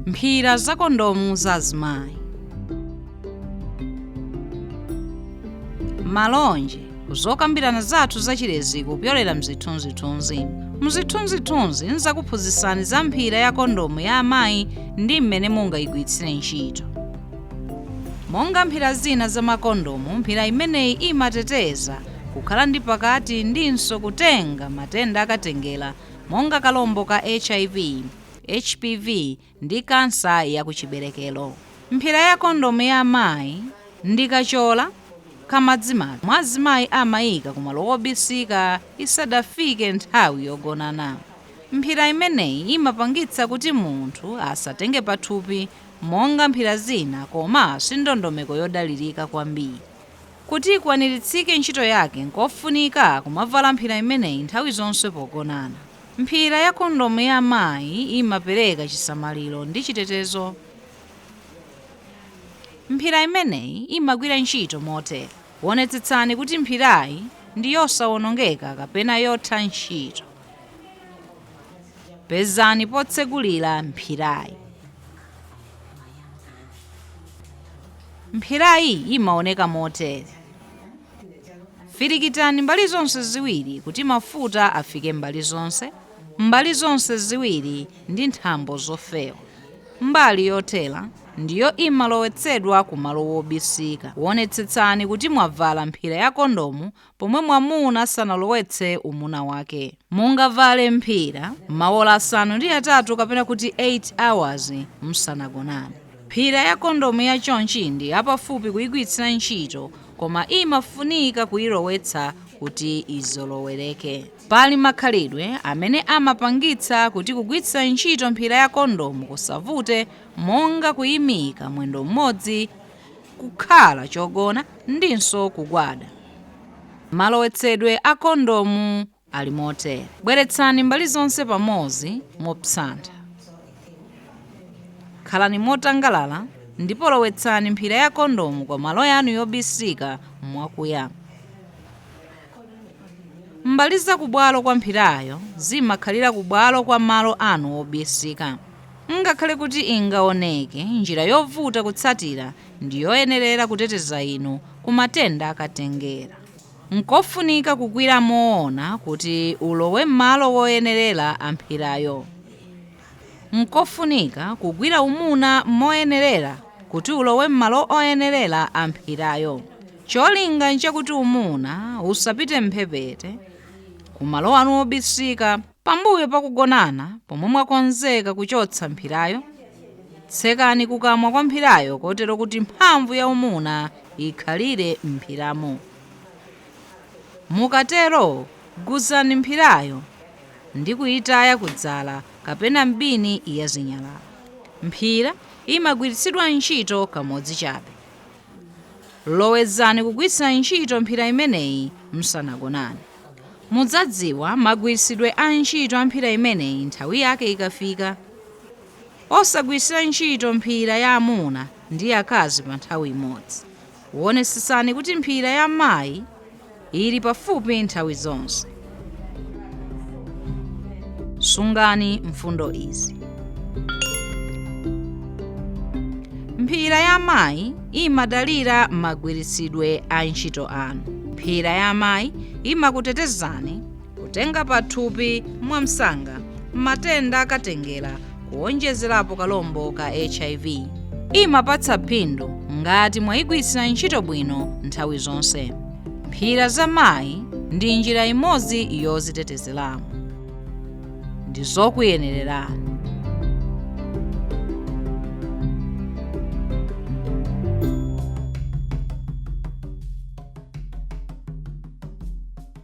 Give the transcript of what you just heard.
mphira za kondomu za azimayi malonje ku zokambirana zathu za chilezi kupyolera mzithunzithunzi mzithunzithunzi nzakuphunzitsani za mphira ya kondomu ya amayi ndi mmene mungayigwiritsire ntchito monga mphira zina za makondomu mphira imeneyi imateteza kukhala ndi pakati ndinso kutenga matenda akatengera monga kalombo ka HIV, HPV, ndi kansa ya kuchiberekero. Mphira ya kondomu ya amayi ndi kachola kamadzimadzi komwe azimayi amayika kumalo wobisika isadafike nthawi yogonana. Mphira imeneyi imapangitsa kuti munthu asatenge pathupi monga mphira zina koma si ndondomeko yodalilika kwambiri. Kuti ikwaniritsike ntchito yake, n'kofunika kumavala mphira imeneyi nthawi zonse pogonana. Mphira ya kondomu ya amayi imapereka chisamaliro ndi chitetezo. Mphira imeneyi imagwira ntchito motere, Wonetsetsani kuti mphirayi ndi yosawonongeka kapena yotha ntchito. Pezani potsegulira mphirayi. Mphirayi imaoneka motere. Firikitani mbali zonse ziwiri kuti mafuta afike mbali zonse, mbali zonse ziwiri ndi nthambo zofewa. Mbali yothera ndiyo imalowetsedwa ku malo wobisika. Wonetsetsani kuti mwavala mphira ya kondomu pomwe mwamuna asanalowetse umuna wake. Mungavale mphira maola asanu ndi atatu kapena kuti 8 hours musanagonane. Mphira ya kondomu ya chonchi ndi yapafupi kuyigwiritsira ntchito koma imafunika kuyilowetsa kuti izolowereke. Pali makhalidwe amene amapangitsa kuti kugwiritsira ntchito mphira ya kondomu kusavute monga kuyimika mwendo m'modzi kukhala chogona ndinso kugwada. Malowetsedwe a kondomu ali motere. Bweretsani mbali zonse pamodzi mopsantha. Khalani motangalala ndipo lowetsani mphira ya kondomu kumalo yanu yobisika mwakuya. Mbali za kubwalo kwa mphirayo zimakhalira kubwalo kwa malo anu obisika. Ngakhale kuti ingaoneke njira yovuta kutsatira, ndi yoyenerera kuteteza inu ku matenda akatengera. Nkofunika kugwira umuna kuti ulowe m'malo oyenerera a mphirayo. Nkofunika kugwira umuna moyenerera kuti ulowe m'malo oyenerera a mphirayo. Cholinga nchakuti umuna usapite m'mphepete, kumalo anu obisika. Pambuyo pa kugonana, pomwe mwakonzeka kuchotsa mphirayo, tsekani kukamwa kwa mphirayo kotero kuti mphamvu ya umuna ikhalire m'mphiramo. Mukatero, guzani mphirayo. ndi kuitaya ku dzala kapena m'bini ya zinyalala. Mphira imagwiritsidwa ntchito kamodzi chabe. Lowezani kugwiritsira ntchito mphira imeneyi musanagonane. Mudzadziwa magwiritsidwe a ntchito a mphira imeneyi nthawi yake ikafika. Osagwiritsira ntchito mphira ya amuna ndi akazi pa nthawi imodzi. Wonetsetsani kuti mphira ya mayi ili pafupi nthawi zonse. Sungani mfundo izi. Mphira ya mayi imadalira magwiritsidwe a ntchito anu. Mphira ya mayi imakutetezani kutenga pathupi mwamsanga matenda akatengera kuwonjezerapo kalombo ka hiv imapatsa phindu ngati mwayigwiritsira ntchito bwino nthawi zonse mphira za mayi ndi njira imodzi yodzitetezeramo ndi zokuyenererani